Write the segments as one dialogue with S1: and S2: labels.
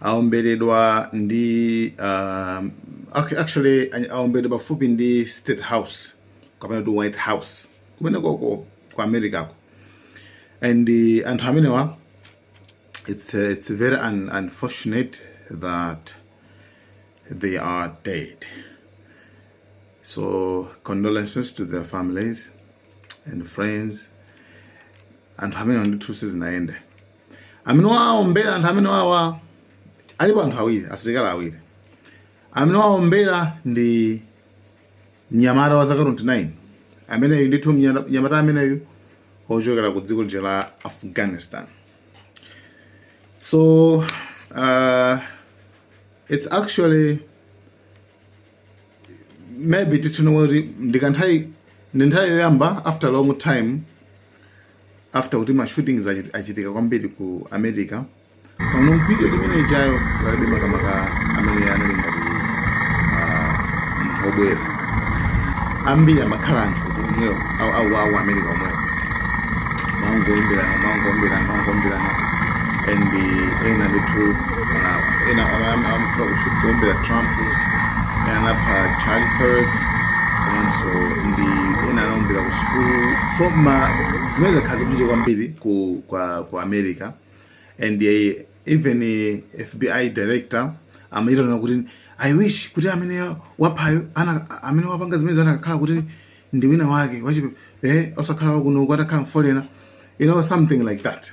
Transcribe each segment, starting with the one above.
S1: aomberedwa ndi uh, ac- actually any- aomberedwa pafupi ndi state house kapena kuti white house kumene koko ku americako and uh, anthu amenewa it's, uh, it's very un unfortunate that they are dead so condolences to their families and friends anthu amenewa ndithu sizinayende amene waombera anthu amenewawa alipo anthu awiri asilikali awiri amene waombera ndi mnyamata wa zaka 29 ameneyu ndithu mnyana- mnyamata ameneyu ochokera ku dziko lija la afghanistan so uh, it's actually maybe titchene kuti ndikanthawi ndi nthawi yoyamba after long time after kuti ma shootings achi- achitika kwambiri ku america pano video limene ijayo palibe makamaka amene anali ngati ah, munthu obwera ambiri amakhala anthu omwewo au- au au america omwewo maungoyimberana maungoyimberana maungoyimberana and ena ndithu uh, ena amafuna kuombera trump ena anapha charlie kirk komanso ndi ena anaombera ku sukulu so ma zimene zakhala zikuchitika kwambiri ku, kwa, ku america and uh, even uh, fbi director amachita kunena kuti i wish kuti amene waphayo ana amene wapanga zimenezi anakakhala kuti ndi wina wake wachipe eh osakhala wakuno kwatakhala foreigner you know something like that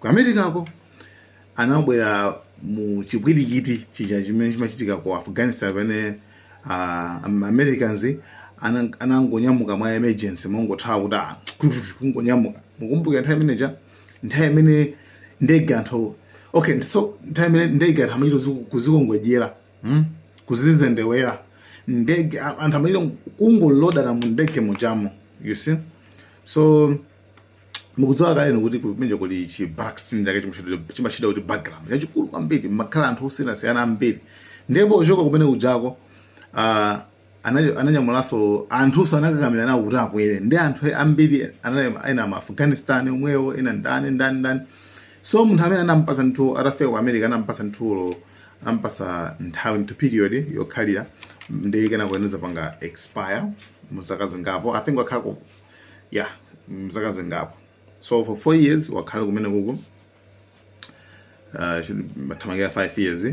S1: ku americako anabwera mu chipwirikiti chija chimene chimachitika ku afghanistan pamene uh, ma americans ana- anangonyamuka mwa emergency mongothawa kuti ah, kungonyamuka mukumbuka nthawi imeneja nthawi imene ndege anthu okay so nthawi imene ndege anthu amachita kuzi- kuzikongodyera hmm? kuzizendewera ndege a- anthu amachita kungolodana mu ndege muchamo you see so mukudziwa kale inu kuti kumene kuli chi vetting chake chimachita- chimachita kuti background yachikulu kwambiri kumakhala anthu osiyanasiyana ambiri ndipo ochoka kumene kujako ah, ana- ananyamulanso anthuso anakakamira nawo kuti akwere ndi anthu ambiri anali- ena ma afghanistan omwewo ena ndani ndani ndani so munthu amene anampasa ndithu atafika ku america anampasa ndithu anampasa nthawi ndithu period yokhalira ndi kenako inazapanga expire mu zaka zingapo i think wakhala ku kwa zaka zingapo so for four years wakhala kumene kuko uh, mathamangira five years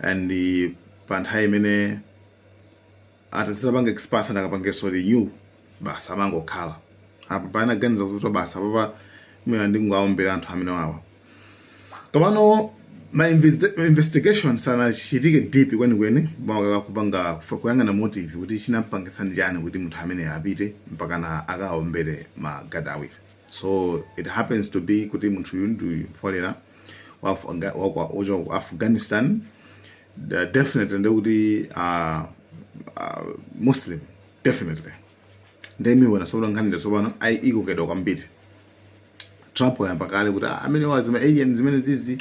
S1: and uh, pa nthawi imene itazapanga expire sanakapangeso renew basi amangokhala apa panaganiza kuti basi apapa mwina ndingowaombera anthu amenewawa komano ma investi- ma investigation sanachitike deep kwenikweni maka kupanga kufa- kuyang'ana motive kuti chinampangitsa ndi chani kuti munthu amene apite mpakana akaombere magadi awiri so it happens to be kuti munthu uyu ndi foreigner wa Afga- wa- wa- wochoka ku afghanistan Da- definitely ndekuti uh, uh, muslim definitely ndemiwona sopano nkhanira sopano ayi ikokedwa kwambiri Trump wayamba kale kuti "Ah, amene wazima alien zimene zizi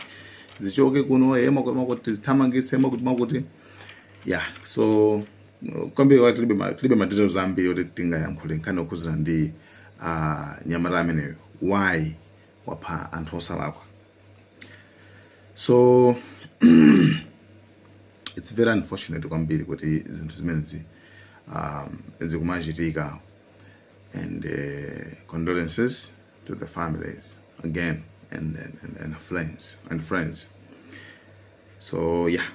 S1: zichoke kuno eya mwakuti mwakuti tizithamangise eya mwakuti mwakuti yeah so uh, kwambiri wa tilibe ma- tilibe madetails ambiri kuti tingayankhule nkhani okhuzana ndi uh, nyamata ameneyo why wapha anthu osalakwa so it's very unfortunate kwambiri kuti zinthu zimenezi um, zikumachitika and uh, condolences to the families again and and, and friends and friends so yeah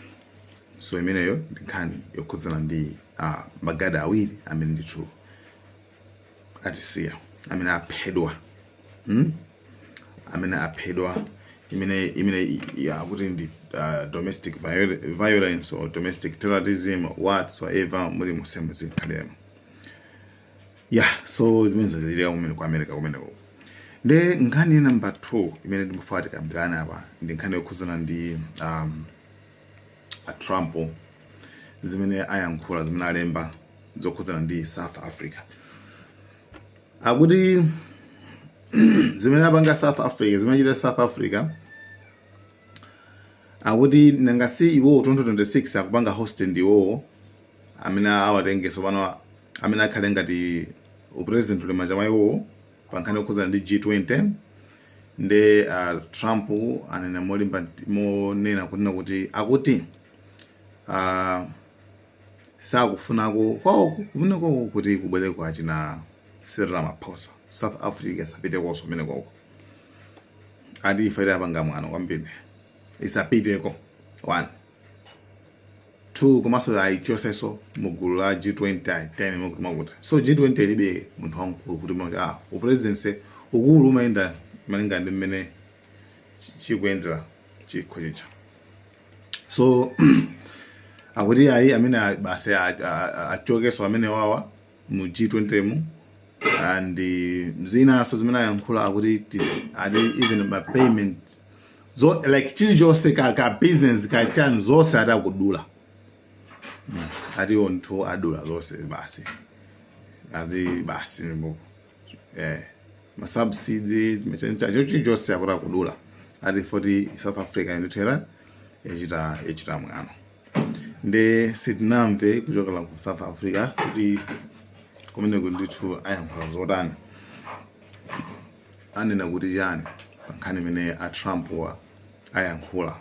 S1: so imeneyo ndi nkhani yokhudzana ndi uh, magadi awiri amene ndithu atisiya amene aphedwa hmm? amene aphedwa imene imene akuti ndi uh, domestic violence or domestic terrorism whatsoever mulimonsemo zikhalemo ya so zimene zachitika kumene ku america kumeneko nde nkhani number two imene ndimafuna tikambirane apa ndi nkhani yokhudzana ndi um, a trump zimene ayankhula zimene alemba zokhudzana ndi south africa akuti zimene apanga south africa zimene achita south africa akuti nanga si iwowo 2026 akupanga host ndi iwowo amene awatengeso pano amene akhale ngati upresident uli manja mwa iwowo pa nkhani yokhudzana ndi G20 nde uh, Trump anena molimba nt- monena kunena kuti akuti uh, sakufunako kwawo kumeneko kuti kubwere kwa china Cyril Ramaphosa South Africa sapitekoso kumeneko ati ife apanga mwano kwambiri isapiteko one two komanso ayichoseso mu gulu la g20 ayi ten mwakuti mwakuti so g20 ilibe munthu wamkulu kuti mwakuti ah upresidency ukulu umayenda malinga ndi mmene chikuyendera chikho chicha so akuti ayi amene a- basi a- a- a- achokeso amene wawa mu G20 mu and zinanso zimene ayankhula akuti ati even ma payment zo like chilichonse ka ka business ka chani zonse adakudula ati onse adula zonse basi ati basi mbo eh ma subsidies mechencha chilichonse akuti akudula ati poti South Africa inotera ichita ichita mwano nde sitinamve kuchokera ku south africa kuti kumeneku ndithu ayankhula zotani anena kuti chani pa nkhani imene a trump wa ayankhula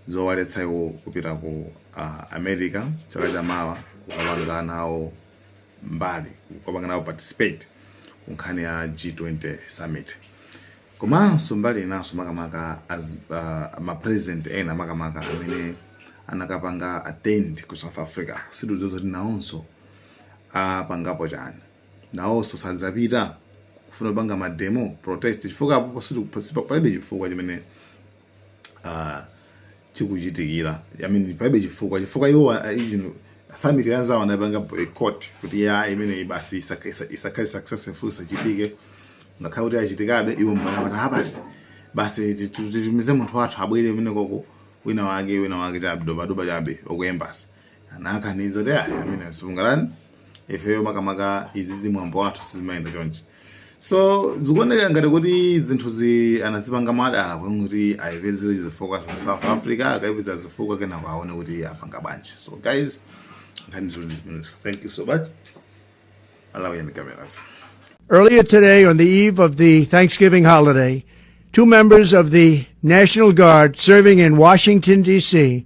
S1: zowaletsa iwo kupita ku uh, america chaka cha mawa kukapanga nawo mbali kukapanga nawo participate ku nkhani ya g20 summit Komanso mbali inanso makamaka as uh, ma president ena makamaka amene anakapanga attend ku South Africa sitidziwa zoti nawonso apangapo chani, nawonso sadzapita kufuna kupanga mademo protest chifukwa apapa palibe chifukwa chimene uh, chikuchitikira I mean palibe chifukwa chifukwa iwo ah, even summit yanzawo anapanga boycott kuti ya imeneyi basi isaka- isa- isakhale successful isachitike ngakhale kuti yachitikabe iwo m'mene anati ah basi basi ti- ti- titumize munthu wathu abwere imene koma wina wake wina wake chargé d'affaires chabe wa ku embassy anakaniza kuti ayi imene sitingalole ifeyo makamaka izizi mwambo wathu sizimayenda chonchi so zikuoneka ngati kuti zinthu anazipanga mwadala kuti ayipeze zifukwa za south africa akayipeza zifukwa kenako aone kuti apanga bwanji so guys thank you so much I love you in the comments
S2: Earlier today, on the eve of the Thanksgiving holiday, two members of the National Guard serving in Washington, D.C.,